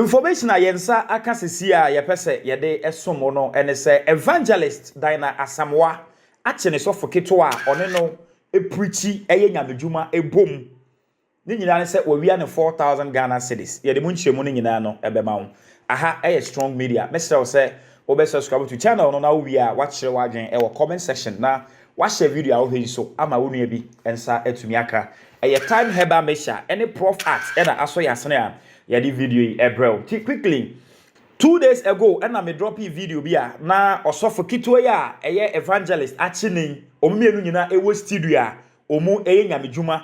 Information a yɛn nsa aka sisi a yɛpɛ sɛ yɛde som mo no ne sɛ Evangelist Dinah Asamoah akye ne sɔfo ketewa a ɔne no preachi yɛ nyamedwuma bom. Ne nyinaa ne sɛ wawia no four thousand Ghana cedis. Yɛde mu nkyerɛmu no nyinaa no bɛma wo. Aha yɛ Strong Media. Mɛsrɛ wo sɛ wobɛ subscribe to channel no na wowie a woakyerɛ w'adwene wɔ comment section na woahyɛ video a wohwɛ yi so ama wo nua bi nsa atumi aka. Ɛyɛ Thyme Herbal Mixture ne Proff Art na asɔ yɛn asene a yɛde video yi brɛ wo. Nti quickly, two days ago na me dropee video bi a na ɔsɔfo ketewa yi a ɛyɛ Evangelist Akyeneyi, wɔn mmienu nyinaa wɔ studio a wɔyɛ nyamedwuma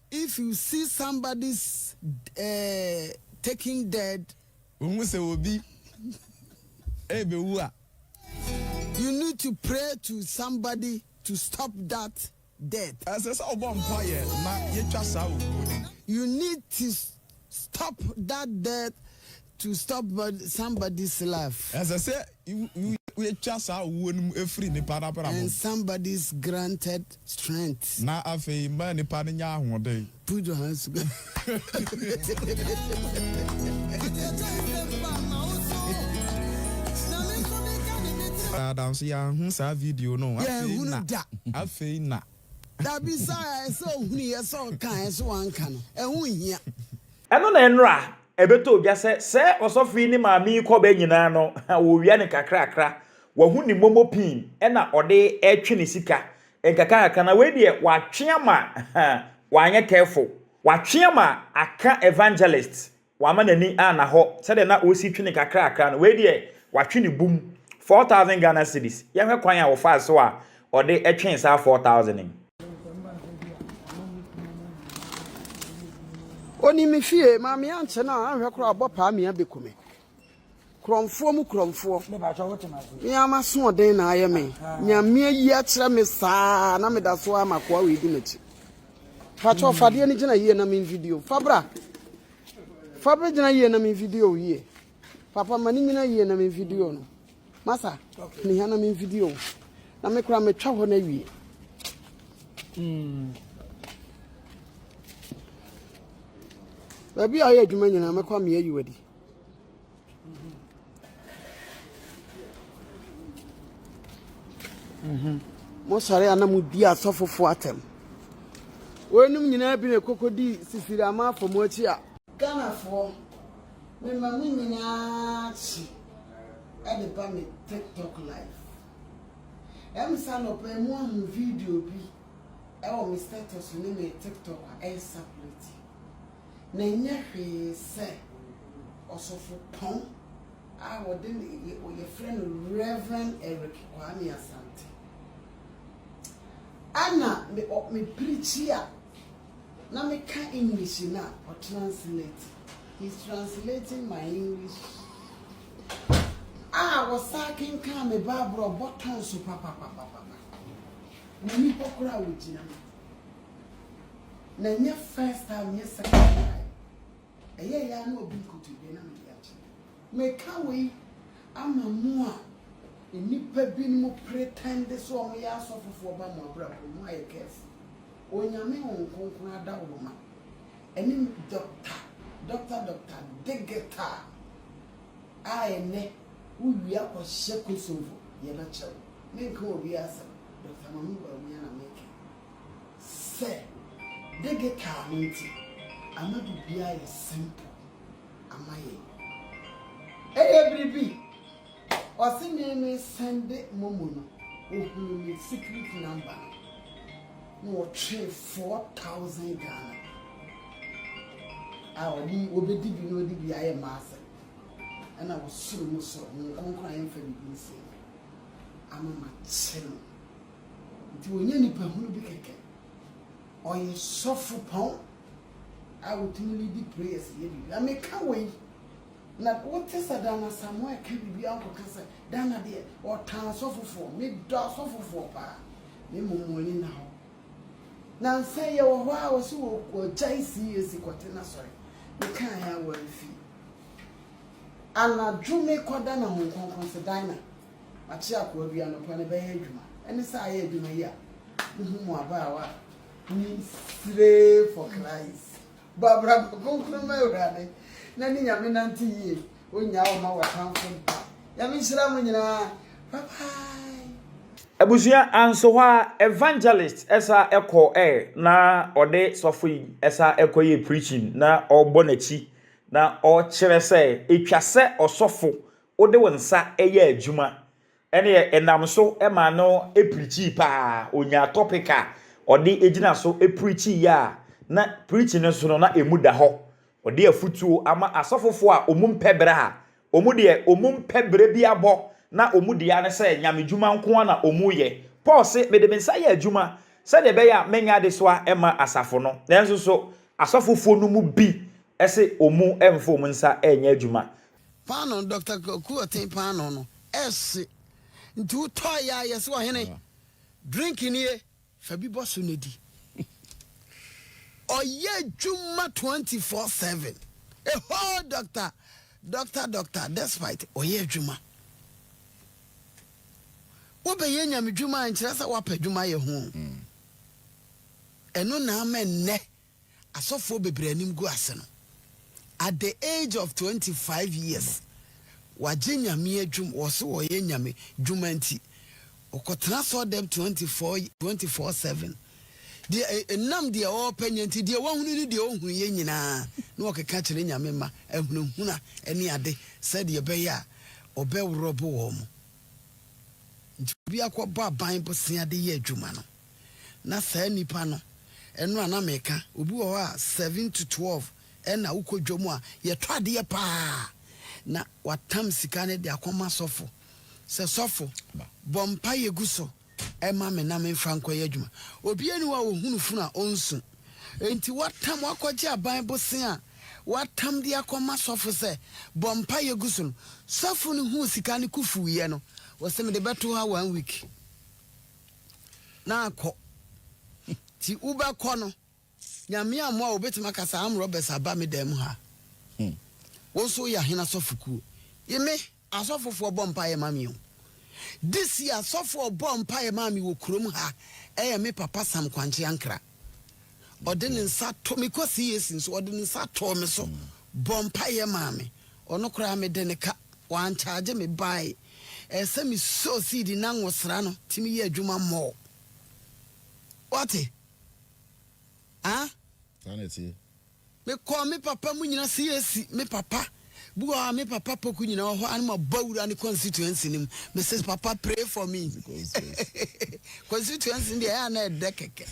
If you see somebody's eh, taking dead. Wohu sɛ obi rebewu a. You need to pray to somebody to stop that death. Ɛsɛ sɛ wobɔ mpaeɛ ma yɛtwa saa owuo no. You need to. Stop that death to stop somebody's life. Ɛsɛ sɛ wotwa saa owuo no mu firi nipa n'abrabɔ mu. And somebody's granted strength. Na afei ma nipa no nya ahoɔden. Put your hands together. Adanso yɛanhu saa video no. Yɛanhunu da. Afei na. Da bi saa a ɛsɛ ohunuiɛ sɛ ɔkaeɛ so wanka no, ɛho nhia. Ɛno na ɛnora ɛbɛtɔ odwa sɛ sɛ ɔsɔfo yi ne maame yi kɔba nyinaa no wɔwia no kakrakra, wahu ne momo pii na ɔde retwe ne sika nkakrankakra na wei deɛ watwe ama wanyɛ careful, watwe ama aka evangelist Wama n'ani anna hɔ sɛdeɛ na ɔsi twe no kakrakra no, wei deɛ watwe no bum, four thousand Ghana cedis, yɛnhwɛ kwan a wɔfaa so a ɔde twee saa four thousand no. Ɔnim me fie, maame ankyɛ no a anhwɛ koraa a ɔbɔ paa me abɛku me. Korɔmfoɔ mu korɔmfoɔ. Mea m'asoɔden na ayɛ me. Nyame ayi akyerɛ me saa na meda so a makoa wei di m'akyi. Pakyɛ fadeɛ no gyina yie na me video. Fabra. Fabra gyina yie na me video yie. Papa ma ne nyina yie na me video no. Masa, ne hia na me video. Na me kora metwa hɔ na wie. Mm. Baabi a ɔyɛ adwuma nyinaa mɛkɔ ameɛ yi wadi. Mosɔre a na modi asɔfofo atɛm. Wɔnom nyinaa bi na ɛkɔkɔdi sisiri ama afɔ mo akyi a. Ghanafoɔ, mema mo nyinaa kye de ba me TikTok live. Ɛmsa anɔpa yi mo ahu video bi wɔ me status ne me TikTok a ɛyɛ circulate. na ɛnyɛ hwee sɛ ɔsɔfopɔn a wɔde no yɛ wɔfrɛ no Rev. Eric Kwame Asante. Ana me ɔ me pirikyi a na meka English no a ɔtranslate he's translating my English a wɔsaa kenkan me Bible a ɔbɔ tɔn so papapapapa. N'ani hɔ koraa a ɔgyina mu. Na ɛnyɛ first time nyɛ second time. Ɛyɛ ya na obi nkotodwe na mede akyɛ. Meka wei ama mo a nnipa binom pretend sɛ wɔn yɛ asɔfofoɔ ba mo abrabɔ mu ayɛ careful. Onyame Honhom Kronkron adawuroma ɛne doctor doctor doctor digita a ɛnɛ wowia kɔhyɛ Kosovo yɛbɛkyɛ wo. Menka obi asɛm, Doctor Mamu Bawumia na meka. Sɛ digital no nti ama biribiara ayɛ simple ama yɛn. Ɛyɛ bere bi ɔse me me sɛnde momo no ohuu me secret number no na ɔtwee four thousand Ghana a ɔde obedi bi na ɔde bi ayɛ maasɛ ɛna ɔsoro mu soro ho nkonkron a yɛmfa biribi nsie no ama makyɛ no. Nti ɔnyɛ nipa hunu bi kɛkɛ. Ɔyɛ sɔfo pɔn a ɔtumi leadi prayers yɛ biribi. Na meka wei na wote sɛ Dana Asamoah ɛka biribi a wonkɔka sɛ Dana deɛ ɔtan asɔfofoɔ. Medɔ asɔfofoɔ paa na mmom wɔn ani nna hɔ. Nansa yi yɛwɔ hɔ a ɔse ɔgyae CAC kɔte n'asɔre. Mekaeɛ a wɔamfie. Anadwo mekɔ Dana Honhom Kronkron se Dana Makye akoa bi anɔpa no bɛyɛ adwuma. Ɛne sɛ ayɛ adwuma yi a muhu mo abaawa a munyin siree for Christ. Bɔ abrabɔ kronkron ma Awurade na ne Nyame nante yie. Onnyaa wo ma w'atamfo da. Nyame nhyira mo nyinaa. Bye bye. Abusua anso hɔ a evangelist sa kɔ ɛ na ɔde sɔfo yi sa kɔ yɛ preaching na ɔbɔ nakyi na ɔkyerɛ sɛ etwa sɛ ɔsɔfo wode wo nsa yɛɛ adwuma ɛneɛ ɛnam so maa no pirikyii paa ɔnyaa topic a ɔde gyina so pirikyiiɛ a na pirikyi no so no na ɛmu da hɔ ɔde afutuo ama asɔfofoɔ a ɔmu mpɛ berɛ a ɔmu deɛ ɔmu mpɛ berɛ bi abɔ na ɔmu deɛ ne sɛ nyame dwuma nkoa na ɔmu yɛ Paul se mede me nsa yɛ adwuma sɛdeɛ ɛbɛyɛ a mɛnya adesoa ma asafo no nanso so asɔfofoɔ no mu bi se ɔmu mfa ɔmu nsa nyɛ adwuma Paanoo Doctor Kwaku Ɔten paanoo no ɛɛhye nti wo tɔɔ yɛ a yɛse ɔhene drink nie fa bi bɔ so na di. Ɔyɛ adwuma 24/7 a whole doctor doctor doctor despite ɔyɛ adwuma. Wobɛyɛ nyamedwuma a nkyerɛ sɛ woapɛ adwuma yɛ ho o. Ɛno na ama nnɛ asɔfoɔ bebree animguase no, at the age of twenty five years, wagye Nyame adwum, wɔ so ɔyɛ Nyame dwuma nti, ɔkɔtena asɔɔdɛm twenty four, twenty four seven, deɛ, ɛnam deɛ ɔɔpɛ nyɛ nti, deɛ wahunu ne deɛ ɔnhunuiɛ nyinaa na ɔkeka kyerɛ Nyame mma, ahunahuna ne ade, sɛdeɛ ɛbɛyɛ a ɔbɛworɔbo wɔn. Nti obi akɔbɔ aban bosea de yɛ adwuma no. na saa nipa no ɛno a na meka obi wɔ hɔ a seven to twelve ɛna wokɔ dwom a yɛtɔ adeɛ paa na watam sika no de akɔma sɔfo sɛ sɔfo bɔ mpaeɛ gu so ɛma me na memfa nkɔyɛ adwuma obi ani wa ɔhunu funu a ɔnsu enti watam wakɔgye aban bose a watam de akɔma sɔfo sɛ bɔ mpaeɛ gu so no sɔfo no huu sika no kufuiɛ no wɔsɛ mede bɛto ha one week na akɔ nti wobɛkɔ no Nyame amoa wo wobɛtumi aka sɛ armed robbers aba me dan mu ha wo nso woyɛ ahene asɔfo kuo yi me asɔfofoɔ bɔ mpaeɛ ma me o this year asɔfoɔ bɔ mpaeɛ ma me wɔ kurom ha ɛyɛ me papa Sam Kwankye Ankra ɔde ne nsa to me kɔ CAC nso ɔde ne nsa too me so bɔ mpaeɛ maa me ɔno koraa me de ne ka wankyagye me bae ɛsɛ me sow seed na nwosra no ti me yɛ adwuma mɔɔ wate ah. Me kɔɔ me papa mu nyina se yesi me papa bi wɔ hɔ a me papa poku nyina wɔ hɔ a ne ma bɔ wura ne constituency no mu me se papa pray for me constituency no deɛ ɛyɛ a na ɛdɛ kɛkɛ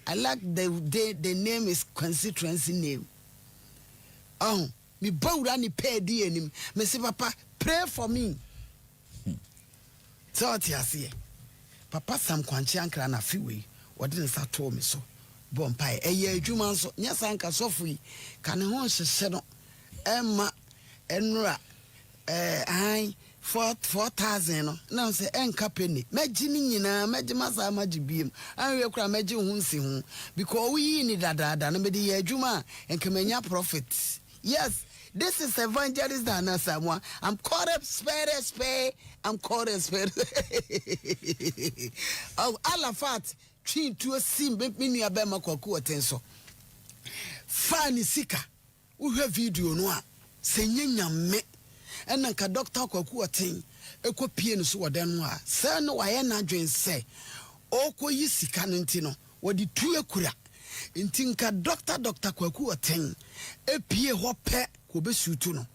I like the the the name is constituency name ɔho me bɔ wura ne pɛɛ di anim me se papa pray for me Hmm. Sɛ ɔte aseɛ. Papa Sam Kwankyee Ankrah na afe wei ɔde ne nsa too me so bɔɔ mpaeɛ. Ɛyɛɛ adwuma nso. Nyɛ saa anka sɔfo yi ka ne ho nhyehye no mma ɛnnora ɛɛ ahan four four thousand no na sɛ ɛnka penny. Mɛgye ne nyinaa, mɛgye masan magye biem. Anwie koraa mɛgye ho nsi ho because woyii ne dadaada no mede yɛɛ adwuma a nka manya profit. Yes this is evangelist Dana Asamoah I'm called a spare spare I'm called a spare oh Alafat twi tuo si me nua bɛma kwaku ɔten so faa ne sika wohwɛ video no a sɛ nyɛ nyame ɛna nka dɔkta kwaku ɔten ɛkɔ pie no so wɔ dɛn no a sɛ na wayɛ n'adwen sɛ ɔkɔ yi sika no nti no Wɔde tu akura. Nti nka Dɔkta Dɔkta Kwaku Ɔteng apue hɔ pɛ ka ɔbɛsiw tu no.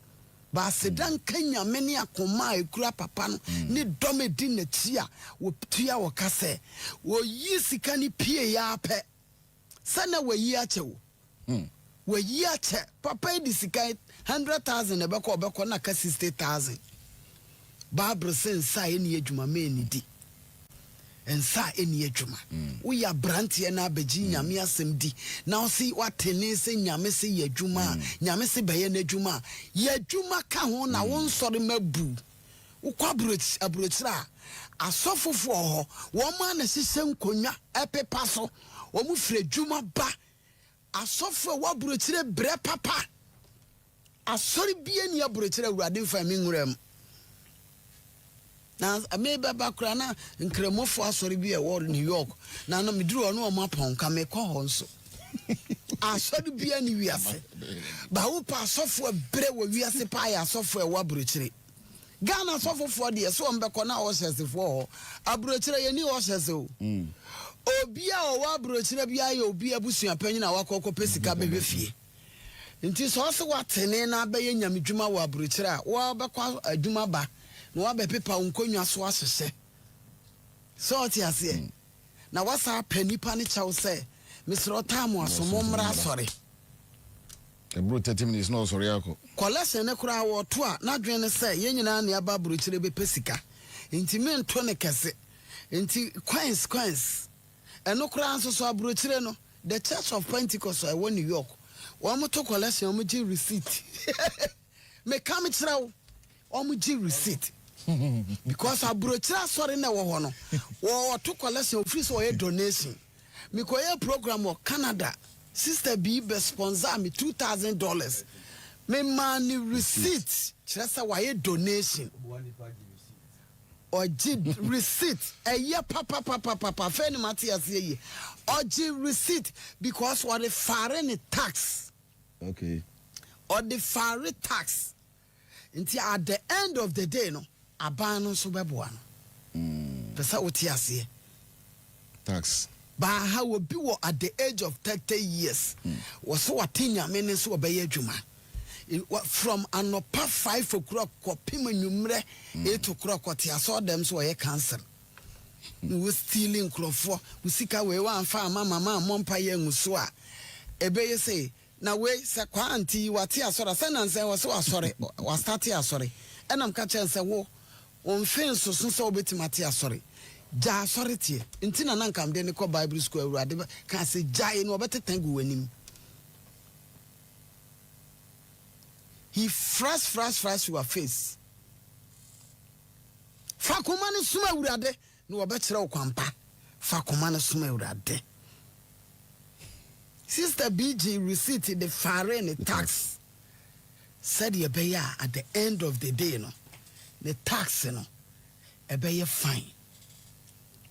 Baaseda nka Nyame ne akoma a ɛkura papa no ne dɔm a ɛdi n'akyi a wɔtua wɔ ka sɛ wɔyii sika no pueeɛ ara pɛ sɛ na wɔayi akyɛ wo. Hmm. Wayi akyɛ. Papa yi de sika yi hundred thousand na ɛbɛkɔ ɔbɛkɔ na aka sixty thousand. Bible sɛ nsa a ɛnni adwuma ma ɛnnidi. Nsa a ɛnni adwuma. Woyɛ abranteɛ na abɛgye Nyame asɛm di na wo se woatene sɛ Nyame se yɛ adwuma a, Nyame se bɛyɛ n'adwuma a, yɛ adwuma ka ho na wo nsɔre mma bu. Wokɔ aburokyi, aburokyire a, asɔfofoɔ wɔ hɔ, wɔn ara na ɛhyehyɛ nkonnwa ɛpepa so, wɔn firi adwuma ba Asɔfo a ɛwɔ aburokyire brɛ papa. Asɔre biara nni aburokyire a Awurade mfaa me nwuraa mu. Na mebɛba koraa na Nkramofo asɔre bi a ɛwɔ New York na na meduru hɔ na wɔn apɔn nka mekɔ hɔ nso. Asɔre biara ne wiase. Bawo pa asɔfo a brɛ wɔ wiase paa yɛ asɔfo a ɛwɔ aburokyire. Ghana sɔfo foɔ deɛ sɛ wɔn bɛkɔ na ɔhyɛse foɔ hɔ aburokyerɛ yɛn ni ɔhyɛse o obi a ɔwɔ aburokyerɛ bi ayɛ obi abusua panyin a wakɔ kɔ pɛ sika bɛhwɛ fie nti sɛ ɔse watene na abɛyɛ nyame dwuma wɔ aburokyerɛ a wo abɛkɔ adwuma ba na wabɛ pepa wo nkonnwa so ahyehyɛ sɛ ɔte aseɛ na wasa apɛ nipa ne kyɛw sɛ mesrɛ ɔtaa mo aso mo mmra asɔre. Ɛboro thirty minutes na ɔsɔre akɔ. Collection no koraa wɔto a n'adwene ne sɛ yɛn nyinaa ne aba abrokyire bɛpɛ sika nti mento no kɛse nti coins coins ɛno koraa nso so abrokyire no the church of pentecost a ɛwɔ new york wɔn to collection wɔn gye receipt meka mekyerɛ wo Wɔn gye receipt because abrokyire asɔre na ɛwɔ hɔ no wɔ ɔto collection ofiri sɛ ɔyɛ donation me kɔ yɛ program wɔ Canada sister bii bɛ sponsor me two thousand dollars me maa ne receipt kyerɛ sɛ wayɛ donation ɔgye receipt ɛyɛ papapapapapa afei ne ma te aseɛ yie ɔgye receipt because ɔde fare ne tax okay ɔde fare tax. Nti at the end of the day no aban no nso bɛboa no. Pɛ sɛ wote aseɛ. Tax. Baaha obi wɔ at the age of thirty years wɔ sɛ wate Nyame ne sɛ ɔbɛyɛ adwuma from anɔpa five o'clock kɔpem anwummerɛ eight o'clock ɔte asɔɔdɛm so ɔyɛ council na wɔ steal nkurɔfoɔ wo sika wei wamfa amma mama ammɔ mpaeɛ angu so a ɛbɛyɛ sɛ Na wei sɛ kwaa nti yi wate asɔre asɛ nansɛ yi ɔse wasɔre wastate asɔre ɛna meka kyerɛ no sɛ wo wo mfe nsoso sɛ wobɛtumi ate asɔre gyaa asɔre teɛ nti na na nka mede no kɔ bible school awurade kaa sɛ gyae na ɔbɛtete agu w'anim he fras fras fras your face fa koma no som awurade Ne wɔbɛkyerɛ wo kwan pa. Fa koma no som Awurade. Sister bi gyee receipt de faree ne tax sɛdeɛ ɛbɛyɛ a at the end of the day no, ne tax no ɛbɛyɛ fine.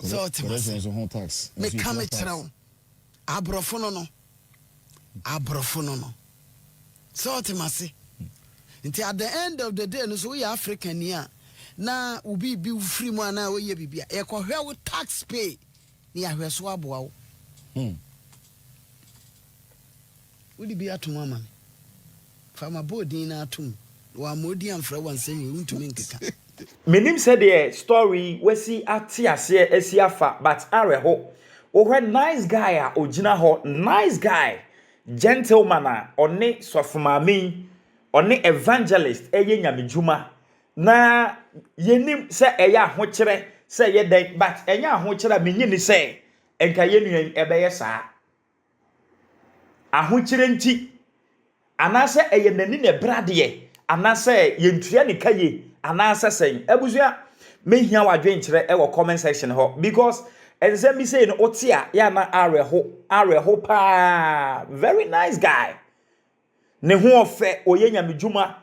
Sɛ ɔte m'ase. Meka mekyerɛ wo. Abrɔfo no no. Abrɔfo no no. Sɛ ɔte m'ase. Nti at the end of the day no so woyɛ African ni a na wo biribi wo firi mu anaa woyɛ biribi a yɛkɔhwɛ wo tax pay ne yɛahwɛ so aboa wo. Hmm. Wode bi atom ama me. Fa m'aboɔdin no ara to mu, na wɔamma odin amfrɛ wo a, nsɛm wei wontumi nkeka. Mennim sɛdeɛ story yi wasi ate aseɛ asi afa but awerɛho wohwɛ nice guy a ogyina hɔ nice guy gentleman a ɔne sɔfo maame yi ɔne evangelist ɛyɛ nyame dwuma na yɛnim sɛ ɛyɛ ahokyerɛ sɛ ɛyɛ dɛn but ɛnyɛ ahokyerɛ a menye ni sɛ nka yɛnua yi ɛbɛyɛ saa. ahokyerɛ nti, anaasɛ ɛyɛ n'ani na ɛbrɛ adeɛ, anaasɛ yɛntua ne ka yie, anaasɛ sɛn. Abusua, mehia w'adwenkyerɛ wɔ comment section hɔ because nsɛm bi sei no wote a yɛ ana awerɛho, awerɛho paa. Very nice guy. Ne ho ɔfɛ, ɔyɛ nyame dwuma.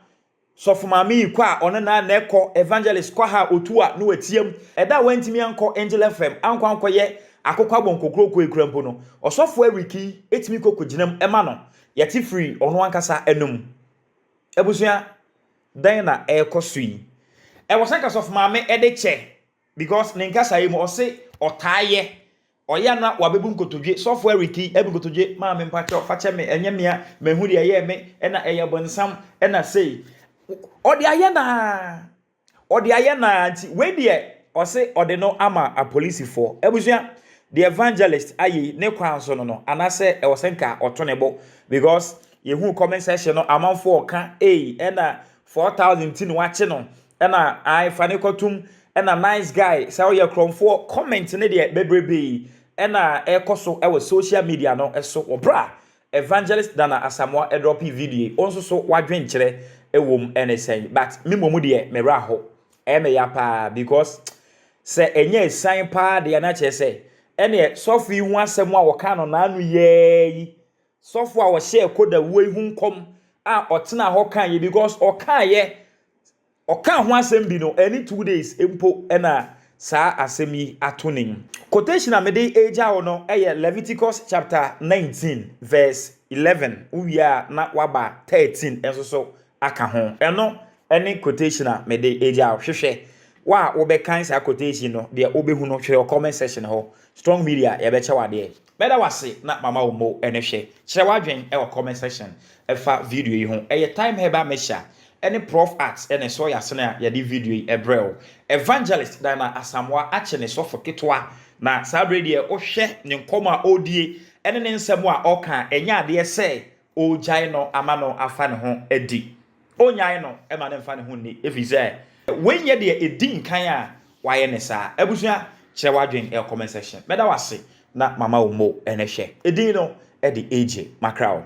Sɔfo maame yi kɔ a ɔne Naa Neh kɔ, Evangelist Kwaha a otu a na watia mu ɛda a wantumi ankɔ Angel FM, ankɔ ankɔyɛ akokɔ abɔ nkokuroko yi koraa mpo no, Ɔsɔfo Eric yi tumi kɔ kogyina mu ma no. Yɛte firi ɔno ankasa anom. Abusua, dɛn na ɛrekɔ so yi? Ɛwɔ sɛ anka Sɔfo Maame de kyɛ because ne nkasaeɛ mu ɔse ɔtaa yɛ Ɔyɛ a na wabebu nkotodwe. Sɔfo Eric yi abu nkotodwe. Maame mpakyɛw fa kyɛ me ɛnyɛ mea mahu deɛ ɛyɛɛ me ɛna ɛyɛ bonsam ɛna sei. Ɔde ayɛ no ara. Ɔde ayɛ no ara nti wei deɛ ɔse ɔde no ama apolisifoɔ. Abusua deɛ evangelist ayɛ yi ne kwan so no no anasɛ ɛwɔ sɛ nka ɔto ne bo because yɛhuu comment section no amanfoɔ ɔka ei ɛna Four thousand ti na wakye no ɛna ae fa ne kɔtum ɛna nice guy sɛ ɔyɛ korɔmfoɔ comment ne deɛ bebrebe ɛna ɛkɔ so ɛwɔ social media no ɛso wɔ bra evangelist Nana Asamoah ɛdrɔpe video yi ɔnso so wadwen kyerɛ ɛwom ɛne sɛn but me mmom deɛ me wura ho ɛyɛ me ya paa because sɛ ɛnyɛ ɛsan paa deɛ na kyerɛ sɛ ɛneɛ sɔfo yi ho asɛm a wɔka no naano yɛɛ yi Sɔfo a ɔhyɛɛ Koda wuo yi ho nkɔm a ɔtenaa hɔ kaeɛ because ɔkaeɛ ɔkaa ho asɛm bi no ɛne two days mpo na saa asɛm yi ato ne mu. Quotation a mede regya wo no yɛ Leviticus chapter 19 verse 11 wowie a na waba 13 nso so aka ho. Ɛno ne quotation a mede regya wo. Hwehwɛ wo a wobɛkan saa quotation no deɛ wobɛhu no hwɛ wɔ comment section hɔ. Strong Media yɛbɛkyɛ wo adeɛ. Mɛda wo ase na mama wo mo ne hwɛ. Kyerɛ w'adwen wɔ comment section fa video yi ho. Ɛyɛ Thyme Herbal Mixture ne Prof Art ne Soy Asene a yɛde video yi brɛ wo. Evangelist Dynah Asamoah akye ne sɔfo ketewa na saa berɛ yi deɛ wohwɛ ne nkɔmmɔ a ɔredie ne ne nsɛm a ɔreka a ɛnyɛ adeɛ sɛ Ɔregyae no ama no afa ne ho adi. Ɔrennyae no mma no mfa ne ho nni, ɛfiri sɛ wei nyɛ deɛ ɛdi nkan a wayɛ no saa. Abusua, kyerɛ w'adwene wɔ comment section. Mɛda wo ase na mama wo mo. Ɛnnɛ hwɛ edin no de regye m'akra o.